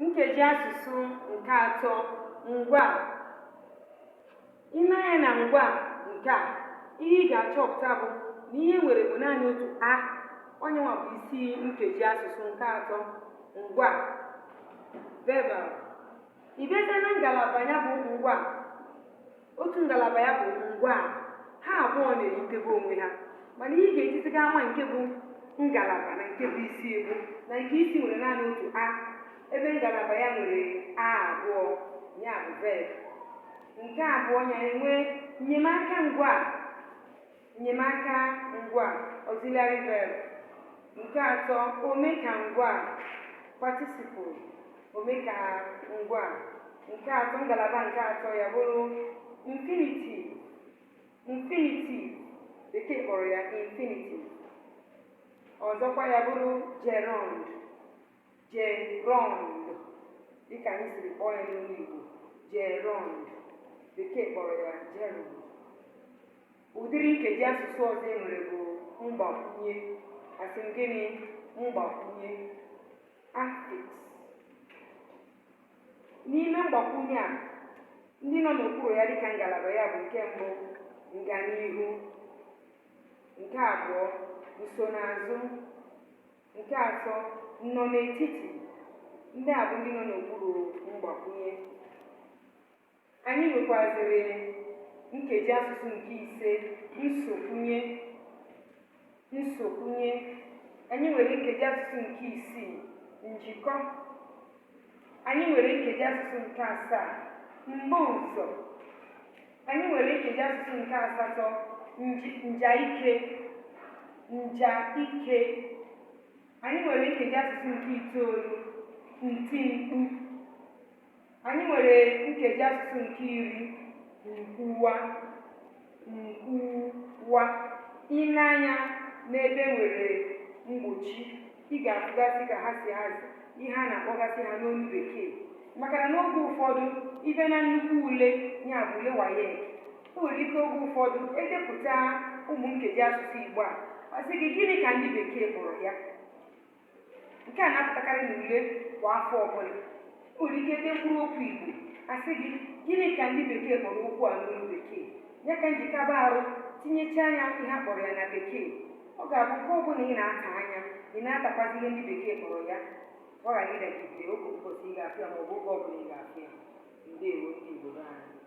nkeji asụsụ nke atọ ngwa i lee anya na ngwa nke a ihe ị ga-achọpụta bụ na ihe o nwere bụ naanị otu a ọ ya nwa bụ isi nkeji asụsụ nke atọ ngwa verbal ị bata na ngalaba ya bụ ngwa otu ngalaba ya bụ ngwaa ha abụọ na-eyitebe onwe ha mana ihe ị ga-ejiziga ama nke bụ ngalaba na nke bụ isi bụ na nke isi nwere naanị otu a ebe ngalaba ya nwere a abụọ ya bụ verb nke abụọ ya enwee nnyemaka ngwaa Nnyemaka ngwaa, auxiliary verb. Nke atọ, omekangwaa, participle, omekangwaa. Nke atọ, ngalaba nke atọ ya bụrụ mfinitiv. Mfinitiv, bekee kpọrọ ya infinitive. Ọzọkwa ya bụrụ jerọnd. Jerọnd dịka anyị siri kpọọ ya n'olu Igbo jerọnd bekee kpọrọ ya gerund ụdịrị nkeji asụsụ ọzọ e nwere bụ mgbakwunye asị m gịnị mgbakwunye affix n'ime mgbakwunye a ndị nọ n'okpuru ya dịka ngalaba ya bụ nke mbụ nganihu nke abụọ nsonaazụ Nke atọ, nnọnetiti. Ndị a bụ ndị nọ n'okpuru mgbakwunye. Anyị nwekwazịrị nkeji asụsụ nke ise, nsokwunye. Nsokwunye. Anyị nwere nkeji asụsụ nke isii, njikọ. Anyị nwere nkeji asụsụ nke asaa, mbuụzọ. Anyị nwere nkeji asụsụ nke asatọ njaike njaike. Anyị nwere nkeji asụsụ nke itoolu ntimkpu. Anyị nwere nkeji asụsụ nke iri nkwuwa nkwuwa. I lee anya n'ebe e nwere mgbochi ị ga-afụgasị ka ha si hazie ihe a na-akpọgasị ha n'olu bekee maka na n'oge ụfọdụ ị bịa na nnukwu ule ya bụ ule WAEC o nwere ike oge ụfọdụ e depụta ụmụ nkeji asụsụ igbo a a sị gị gịnị ka ndị bekee kpọrọ ya nke a na-apụtakarị n'ule kwa afọ ọbụla O nwere ike dee mkpụrụ okwu Igbo a sị gị gịnị ka ndị bekee kpọrọ okwu a n'olu bekee ya ka m ji kaba arụ tinyechaa ya ihe a kpọrọ ya na bekee ọ ga-abụ nke ọ bụla ị na-ata anya ị na-atakwazi ihe ndị bekee kpọrọ ya ka ọ ghara ịdagide oge ụbọchị ị ga-afụ ya ma ọ bụ oge ọ bụla ị ga-afụ ya ndewo ndị Igbo be anyị